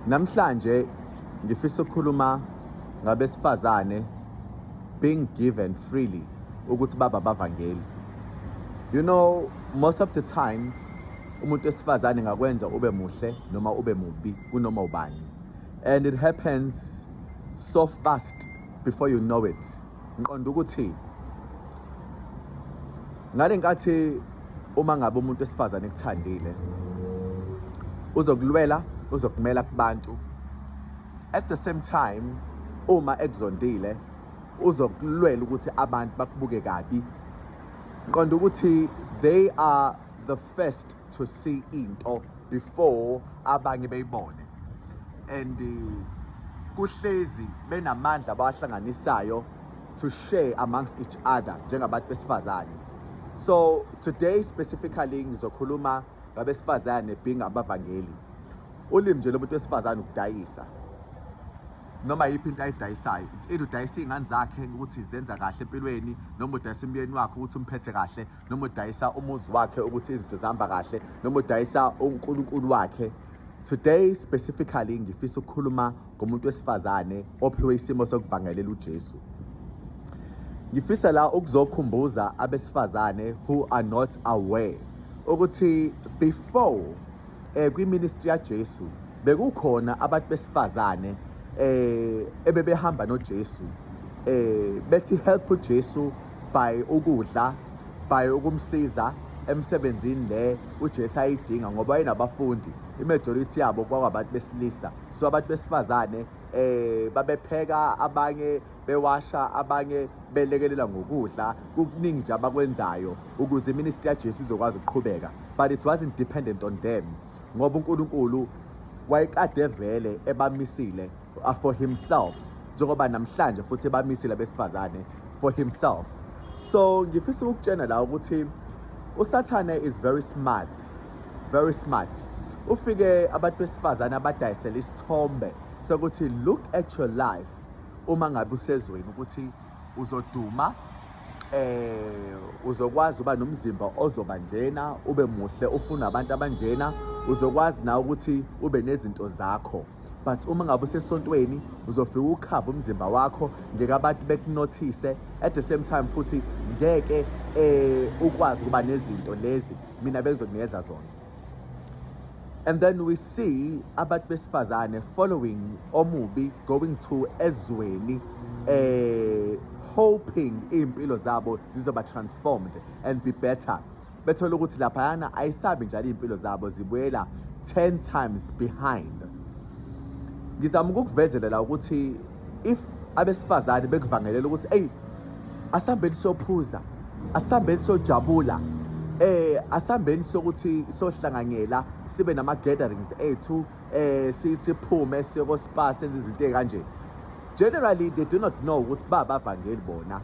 Namhlanje ngifisa ukukhuluma ngabesifazane being given freely ukuthi baba bavangeli. You know most of the time umuntu wesifazane ngakwenza ube muhle noma ube mubi kunoma ubani and it happens so fast before you know it. Ngiqonda ukuthi ngale nkathi uma ngabe umuntu wesifazane ekuthandile uzokulwela uzokumela kubantu at the same time uma ekuzondile uzokulwela ukuthi abantu bakubuke kabi qonda ukuthi they are the first to see into before abanye beyibone and eh, kuhlezi benamandla abawahlanganisayo to share amongst each other njengabantu besifazane so today specifically ngizokhuluma ngabesifazane being abavangeli ulimi nje lomuntu wesifazane ukudayisa noma yiphi into ayidayisayo it's either udayisa iy'ngane zakhe ukuthi zenza kahle empilweni noma udayisa umyeni wakhe ukuthi umphethe kahle noma udayisa umuzi wakhe ukuthi izinto zihamba kahle noma udayisa unkulunkulu wakhe today specifically ngifisa ukukhuluma ngomuntu wesifazane ophiwe isimo sokuvangelela ujesu ngifisa la ukuzokhumbuza abesifazane who are not aware ukuthi before eh kwiministry yaJesu bekukhona abantu besifazane eh ebebehamba noJesu eh bethi help uJesu by ukudla by ukumsiza emsebenzini le uJesu ayidinga ngoba enabafundi imajority yabo kwabantu besilisa so abantu besifazane eh babepheka abanye bewasha abanye belekelela ngokudla kukuningi nje abakwenzayo ukuze iministry yaJesu izokwazi ukuqhubeka but it wasn't dependent on them ngoba uNkulunkulu wayekade vele ebamisile uh, for himself njengoba namhlanje futhi bamisile abesifazane for himself so ngifisa ukutshena la ukuthi usathane is very smart very smart ufike abantu besifazane abadayisela isithombe sokuthi look at your life uma ngabe usezweni ukuthi uzoduma eh uzokwazi uba nomzimba ozoba njena ube muhle ufuna abantu abanjena uzokwazi na ukuthi ube nezinto zakho but uma ngabe usesontweni uzofika ukhava umzimba wakho ngeke abantu bekunothise at the same time futhi ngeke eh ukwazi ukuba nezinto lezi mina bengizokunikeza zona and then we see abantu besifazane following omubi going to ezweni eh hoping impilo zabo zizoba transformed and be better bethole ukuthi laphayana ayisabi njalo iy'mpilo zabo zibuyela 10 times behind ngizama ukukuvezelela ukuthi if abesifazane bekuvangelela ukuthi eyi asihambeni siyophuza asihambeni siyojabula eh asihambeni sokuthi sohlanganyela sibe nama gatherings ethu eh siphume siyoko spa senze izinto ezikanje generally they do not know ukuthi baba vangeli bona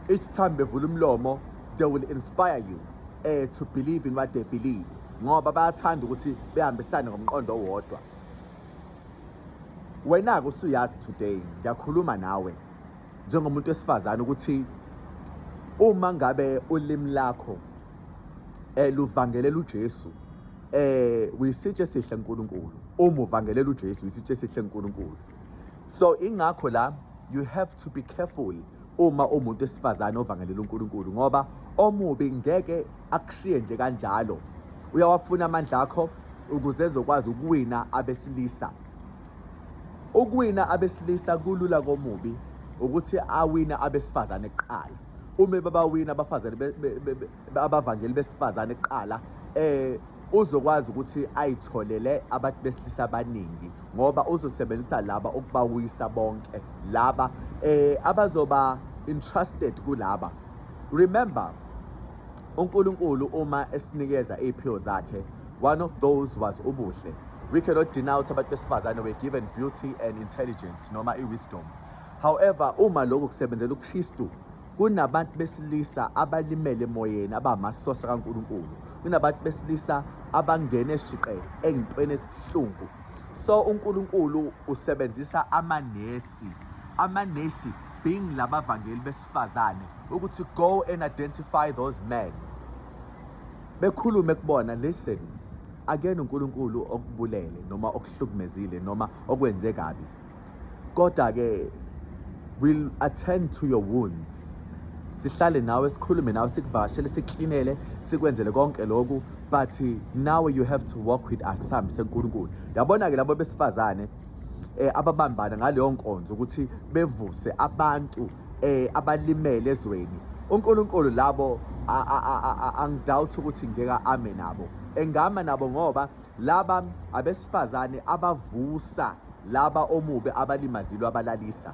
each time bevula umlomo they will inspire you uh, to believe in what they believe ngoba bayathanda ukuthi behambisane ngomqondo owodwa wena-ke usuyazi today ngiyakhuluma nawe njengomuntu wesifazane ukuthi uma ngabe ulimi lakho eh luvangelela uJesu eh uyisitshe sihle uNkulunkulu uma uvangelela uJesu uyisitshe sihle uNkulunkulu so ingakho la you have to be careful uma umuntu esifazane ovangelela uNkulunkulu ngoba omubi ngeke akushiye nje kanjalo uyawafuna amandla akho ukuze ezokwazi ukuwina abesilisa ukuwina abesilisa kulula komubi ukuthi awina abesifazane kuqala uma babawina abafazane abavangeli besifazane kuqala eh uzokwazi ukuthi ayitholele abantu besilisa abaningi ngoba uzosebenzisa laba ukubawisa bonke laba eh abazoba entrusted kulaba remember uNkulunkulu uma esinikeza iziphiwo zakhe one of those was ubuhle we cannot denounce abantu besifazane were given beauty and intelligence noma i-wisdom however uma lokhu kusebenzela uKristu Kunabantu besilisa abalimele emoyeni abamasosha kaNkulunkulu. Kunabantu besilisa abangene shiqe engintweni esibuhlungu. So uNkulunkulu usebenzisa amanesi. Amanesi being labavangeli besifazane ukuthi go and identify those men. Bekhulume kubona listen akuyena uNkulunkulu okubulele noma okuhlukumezile noma okwenze kabi. kodwa ke will attend to your wounds sihlale nawe sikhulume nawe sikuvashele siklinele sikwenzele konke lokhu but now you have to walk with us sami senkulunkulu yabona ke labo besifazane eh ababambana ngaleyo nkonzo ukuthi bevuse abantu eh abalimele ezweni uNkulunkulu labo angidoubt ukuthi ngeke ame nabo engama nabo ngoba Laba abesifazane abavusa laba omubi abalimazilwe abalalisa.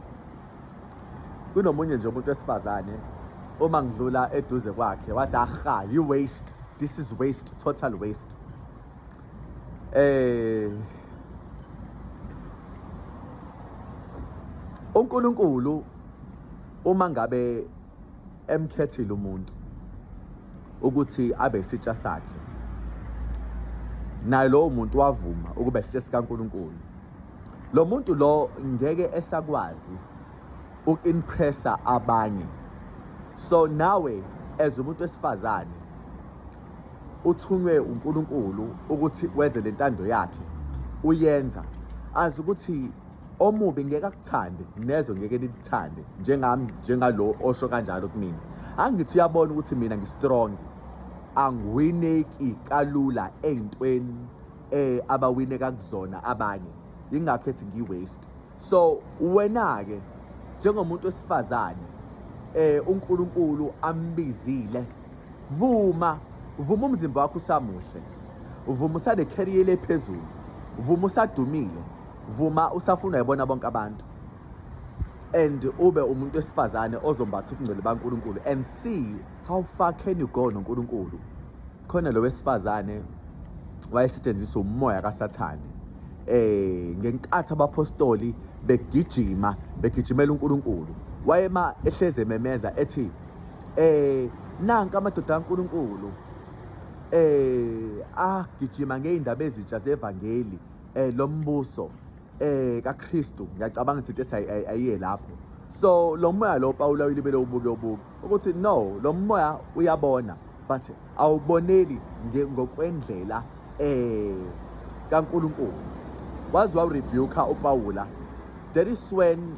Kunomunye nje umuntu wesifazane uma ngidlula eduze kwakhe wathi aha yi waste this is waste total waste eh uNkulunkulu uma ngabe emkhethile umuntu ukuthi abe isitsha sakhe naye lowo muntu wavuma ukuba isitsha sikaNkuluNkulu lo muntu lo ngeke esakwazi uku-impressa abanye so nawe as umuntu wesifazane uthunywe uNkulunkulu ukuthi wenze lentando yakhe uyenza azi ukuthi omubi ngeke akuthande nezwe ngeke likuthande njengami njengalo osho kanjalo kumina angithi uyabona ukuthi mina ngistrong angiwineki kalula ey'ntweni eh abawineka kuzona abanye yingakho ethi ngiwaste so wena-ke njengomuntu wesifazane eh uNkulunkulu ambizile vuma vuma umzimba wakho usamuhle vuma usane career lephezulu vuma usadumile vuma usafuna yibona bonke abantu and ube umuntu wesifazane ozombatha ubungcwele baNkulunkulu and see how far can you go noNkulunkulu khona lo wesifazane wayesetshenziswa umoya kaSathane eh ngenkathi abapostoli begijima begijimela uNkulunkulu wayema ehleze ememeza ethi eh nanka amadoda kaNkulunkulu eh agijima ngeindaba ezitsha zevangeli eh lo mbuso eh kaKristu ngiyacabanga ukuthi into ethi ayiye lapho so lo moya lo Pawula uyilibele ubuke ubuke ukuthi no lo moya uyabona but awuboneli ngokwendlela eh kaNkuluNkulu wazi warebuka uPawula that is when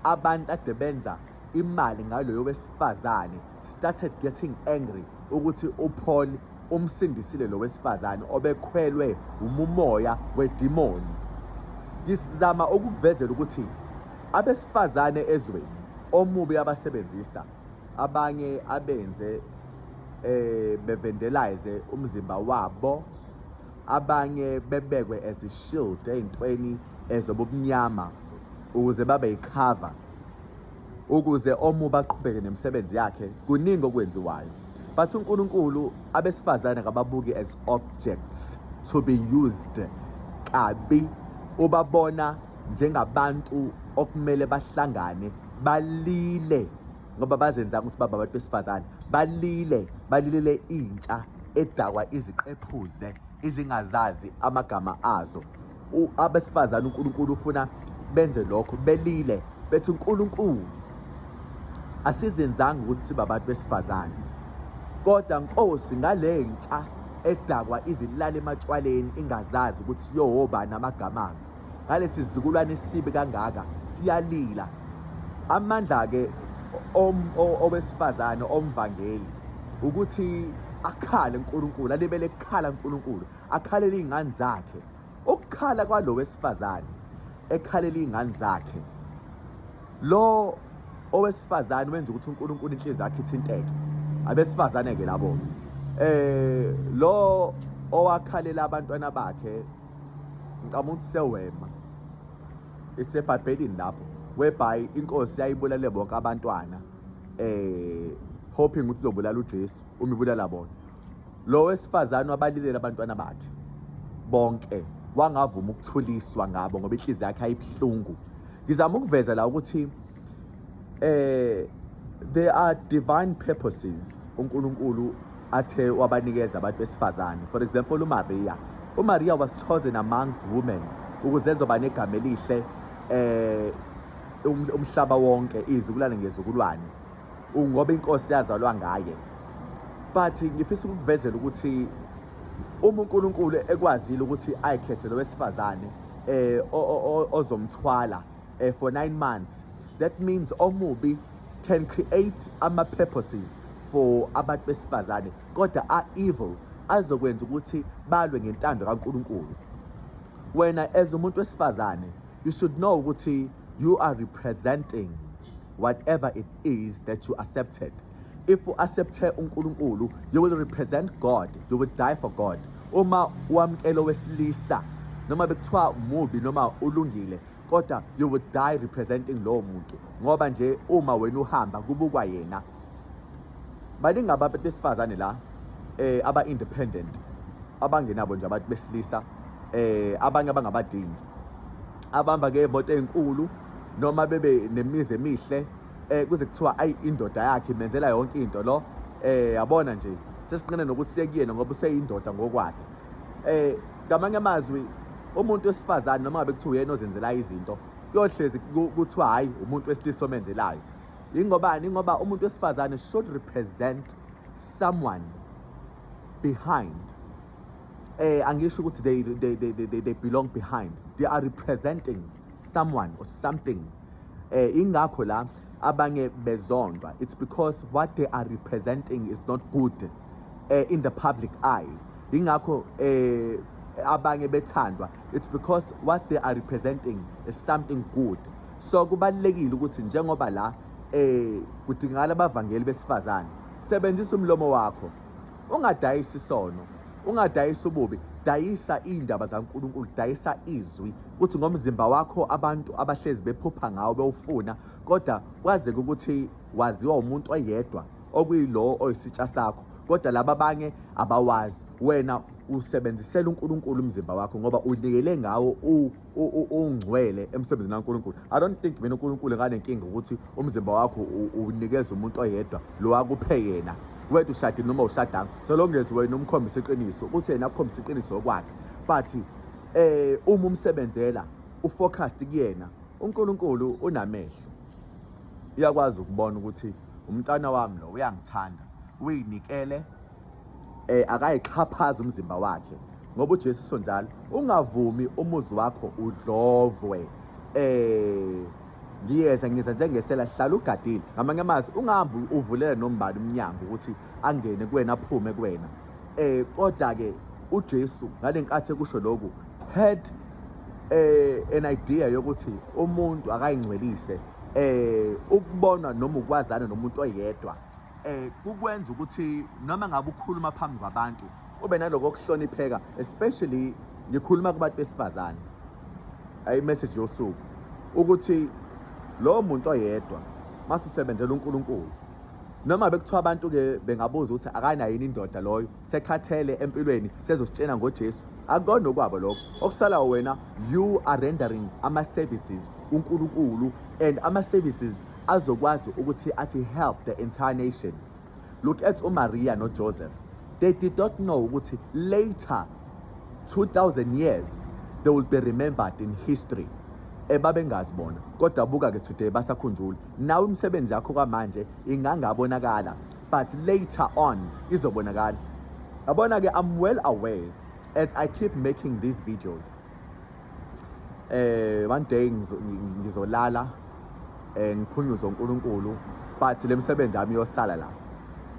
abantu ade benza imali ngaloyo wesifazane started getting angry ukuthi uPaul umsindisile lo wesifazane obekhwelwe umumoya wedimoni ngisizama ukukuvezela ukuthi abesifazane ezweni omubi abasebenzisa abanye abenze eh bevendelize umzimba wabo abanye bebekwe as a shield ezintweni ezobumnyama ukuze babe yicover ukuze omu baqhubeke nemisebenzi yakhe kuningi okwenziwayo but uNkulunkulu abesifazane akababuki as objects to be used kabi ubabona njengabantu okumele bahlangane balile ngoba bazenza ukuthi baba abantu besifazane balile balilele intsha edakwa iziqephuze izingazazi amagama azo abesifazane uNkulunkulu ufuna benze lokho belile bethi uNkulunkulu asizenzanga ukuthi sibe abantu besifazane kodwa nkosi ngale ntsha edakwa izilala ematshwaleni ingazazi ukuthi yohoba namagama ngalesi zizukulwane esibi kangaka siyalila amandla-ke owesifazane omvangeli ukuthi akhale uNkulunkulu alibele kukhala uNkulunkulu akhalele iy'ngane zakhe ukukhala kwalo wesifazane ekhalela iy'ngane zakhe lo owesifazane wenza ukuthi unkulunkulu inhliziyo yakhe ithinteke abesifazane-ke labo eh lo owakhalela abantwana bakhe ngicabanga ukuthi sewema isebhabhelini lapho whereby inkosi yayibulale bonke abantwana eh hoping ukuthi izobulala uJesu uma ibulala bona Lo wesifazane wabalilela abantwana bakhe bonke wangavuma ukuthuliswa ngabo ngoba inhliziyo yakhe ayibuhlungu ngizama ukuveza la ukuthi eh there are divine purposes uNkulunkulu athe wabanikeza abantu besifazane for example uMaria uMaria was chosen amongst women ukuze ezoba negama elihle eh um, umhlaba wonke izukulwane ngezukulwane ngoba inkosi yazalwa ngaye but ngifisa ukukuvezela ukuthi uma uNkulunkulu ekwazile ukuthi ayikhethe lo wesifazane eh ozomthwala eh, for 9 months that means omubi can create ama purposes for abantu besifazane kodwa a evil azokwenza ukuthi balwe ngentando kaNkulunkulu wena as umuntu wesifazane you should know ukuthi you are representing whatever it is that you accepted if u accepte uNkulunkulu you will represent God you will die for God uma wamkela wesilisa noma bekuthiwa mubi noma ulungile kodwa you will die representing lowo muntu ngoba nje uma wena uhamba kubukwa yena baningi abantu besifazane la eh aba independent abangenabo nje abantu besilisa eh abanye abangabadingi abahamba ngey'moto ey'nkulu noma bebe nemizi emihle eh kuze kuthiwa ayi indoda yakhe imenzela yonke into lo eh yabona nje sesinqene nokuthi sekuyena ngoba useyindoda ngokwakhe eh ngamanye amazwi umuntu wesifazane noma ngabe kuthiwa uyena ozenzela izinto kuyohlezi kuthiwa hayi umuntu wesilisa omenzelayo ingobani ngoba umuntu wesifazane should represent someone behind eh angisho ukuthi they they they they, they belong behind they are representing someone or something eh ingakho la abanye bezondwa it's because what they are representing is not good eh, in the public eye ingakho eh abanye bethandwa it's because what they are representing is something good so kubalekile ukuthi njengoba la eh kudingakala abavangeli besifazane sebenzisa umlomo wakho ungadayisi isono ungadayisa ububi dayisa iy'ndaba zankulunkulu dayisa izwi kuthi ngomzimba wakho abantu abahlezi bephupha ngawo bewufuna kodwa kwazeke ukuthi waziwa umuntu oyedwa okuyilowo oyisitsha sakho kodwa laba abanye abawazi wena usebenzisela uNkulunkulu umzimba wakho ngoba unikele ngawo ungcwele emsebenzini kaNkulunkulu i don't think mina uNkulunkulu akanenkinga ukuthi umzimba wakho unikeza umuntu oyedwa lo wakuphe yena wethu ushadile noma ushadanga so long as wena umkhombisa iqiniso ukuthi yena akukhombisa iqiniso kwakhe but eh uma umsebenzela ufocused kuyena uNkulunkulu unamehlo uyakwazi ukubona ukuthi umntana wami lo uyangithanda uyinikele eh akayixhaphaza umzimba wakhe ngoba uJesu usho njalo ungavumi umuzi wakho udlovwe eh ngiyeza ngiza njengesela hlala ugadile ngamanye amazwi ungahambi uvulele nombani umnyango ukuthi angene kuwena aphume kuwena eh kodwa ke uJesu ngalenkathi ekusho lokhu had eh an idea yokuthi umuntu akayingcwelise eh ukubona noma ukwazana nomuntu oyedwa eh kukwenza ukuthi noma ngabe ukhuluma phambi kwabantu ube naloko kuhlonipheka especially ngikhuluma kubantu besifazane ayi message yosuku ukuthi lo muntu oyedwa masisebenzela uNkulunkulu noma bekuthiwa abantu ke bengabuza ukuthi akanayo yini indoda loyo sekhathele empilweni sezositshena ngoJesu akukona okwabo lokho okusala wena you are rendering ama services uNkulunkulu and ama services azokwazi ukuthi athi help the entire nation look at umaria nojoseph they did not know ukuthi later 2000 years they will be remembered in history ebabengazi eh, bona kodwa buka-ke today basakhunjula nawe imisebenzi yakho kwamanje ingangabonakala but later on izobonakala yabona-ke i'm well aware as i keep making these videos eh one day ngizolala eh ngiphunyuze uNkulunkulu but lemsebenzi yami yosala la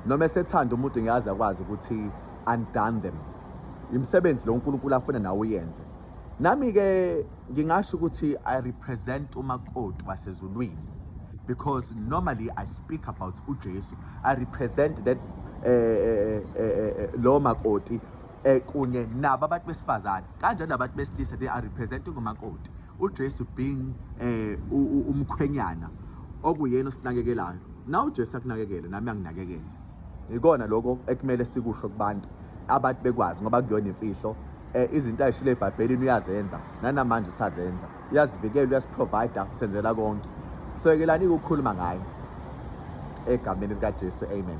noma esethanda umuntu ngiyazi akwazi ukuthi undone them imisebenzi lo uNkulunkulu afuna nawe uyenze nami ke ngingasho ukuthi i represent umakoti wasezulwini because normally i speak about uJesu i represent that eh, eh, eh, eh, eh lo makoti eh kunye nabo abantu besifazane kanjalo abantu besilisa they are representing umakoti uJesu being eh umkhwenyana okuyena osinakekelayo na uJesu akunakekele nami anginakekele ikona lokho ekumele sikusho kubantu abantu bekwazi ngoba kuyona imfihlo eh izinto ayishilo ebhabhelini uyazenza nanamanje usazenza uyazivikela uyasiprovider usenzela konke soyekelani ukukhuluma ngaye egameni likaJesu amen